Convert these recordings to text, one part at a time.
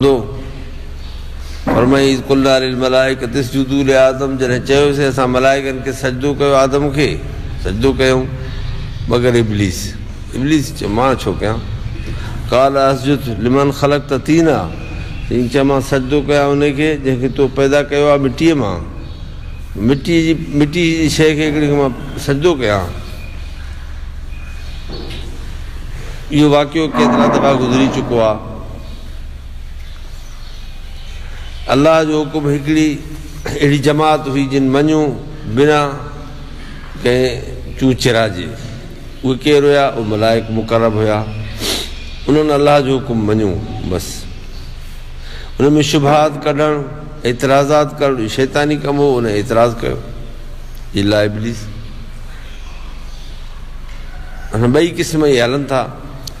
هوندو. فرمائي اذ قلنا للملائکة اسجدوا لآدم جڏهن چيوسين اسان ملائڪن کي سجدو ڪيو آدم کي سجدو ڪيائون مگر ابليس ابليس چيو مان ڇو ڪيان قال اسجد لمن خلقت طينا چيائين چئه مان سجدو ڪيان انهي کي جنهن کي تو پيدا ڪيو آهي مٽيء مان مٽيء جي مٽيء جي شيء کي هڪڙي کي مان سجدو ڪيان اهو واقعو ڪيترا دفعا گذري چڪو آهي. الله جو حڪم هڪڙي اهڙي جماعت هئي جن مڃيو بنا ڪنهن چون چرا جي. اهي ڪير هيا؟ اهي ملائڪ مقرب هيا. انهن الله جو حڪم مڃيو بس. انهن ۾ شبهات ڪڍڻ، اعتراضات ڪرڻ اهو شيطاني ڪم هو انهن اعتراض ڪيو. الا ابليس. هن ٻئي قسم اهي هلن ٿا.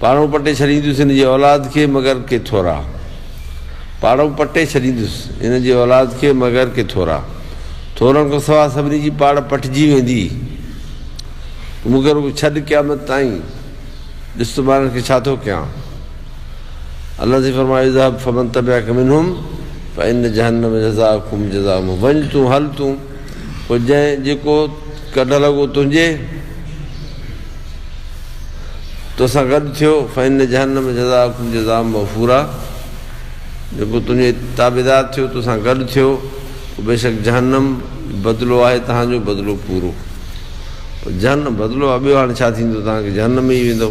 پاڙون پٽي ڇڏيندس هن جي اولاد کي مگر ڪي ٿورا پاڙون پٽي ڇڏيندس هن جي اولاد کي مگر ڪي ٿورا ٿورن کان سوا سڀني جي پاڙ پٽجي ويندي مگر اهو ڇڏ قيامت تائين ڏس ته ٻارن کي ڇا ٿو ڪيان الله سي فرمايو ذهب فمن تبعك منهم فان جهنم جزاءكم جزاء وڃ تون هل تون پوء جنهن جيڪو ڪڍ لڳو تنهنجي توسان گڏ ٿيو فإن جهنم جزاءکم جزاء موفورا جيڪو تنهنجي تابعدار ٿيو توسان گڏ ٿيو پوء بيشڪ جهنم بدلو آهي توهان جو بدلو پورو جهنم بدلو آهي ٻيو هاڻي ڇا ٿيندو توهان کي جهنم ۾ ئي ويندو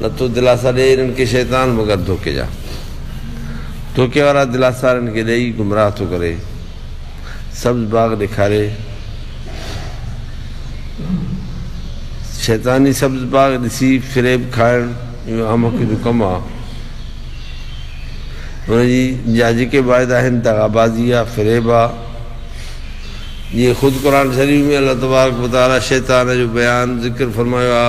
نه تو دلاسا ڏيئي انهن کي شيطان مگر ڌوڪي جا ڌوڪي وارا دلاسا انهن کي ڏيئي گمراهه ٿو ڪري سبز باغ ڏيکاري شيطاني سبز باغ ڏسي فريب کائڻ اهو احمق جو ڪم آ ان جي جا جيڪي واعدا آهن دغابازي آ فريب آ جي خود قرآن شريف ۾ الله تبارڪ وتعالي شيطان جو بيان ذڪر فرمايو آ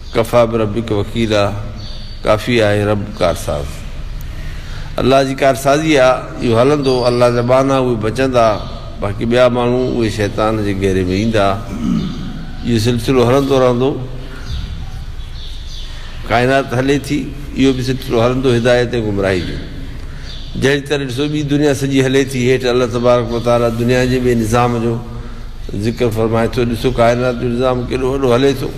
ڪفٰي بربڪ وڪيلا، ڪافي آهي رب ڪارساز. الله جي ڪارسازي آ، اهو هلندو، الله جا ٻانها اهي بچندا، باقي ٻيا ماڻهو اهي شيطان جي گهيري ۾ ايندا. اهو سلسلو هلندو رهندو. ڪائنات هلي ٿي، اهو به سلسلو هلندو هدايت ۽ گمراهي جو. جهڙي طرح ڏسو ٻي دنيا سڄي هلي ٿي، هيٺ الله تبارڪ و تعاليٰ دنيا جي ٻئي نظام جو ذڪر فرمائي ٿو، ڏسو ڪائنات جو نظام ڪيڏو وڏو هلي ٿو.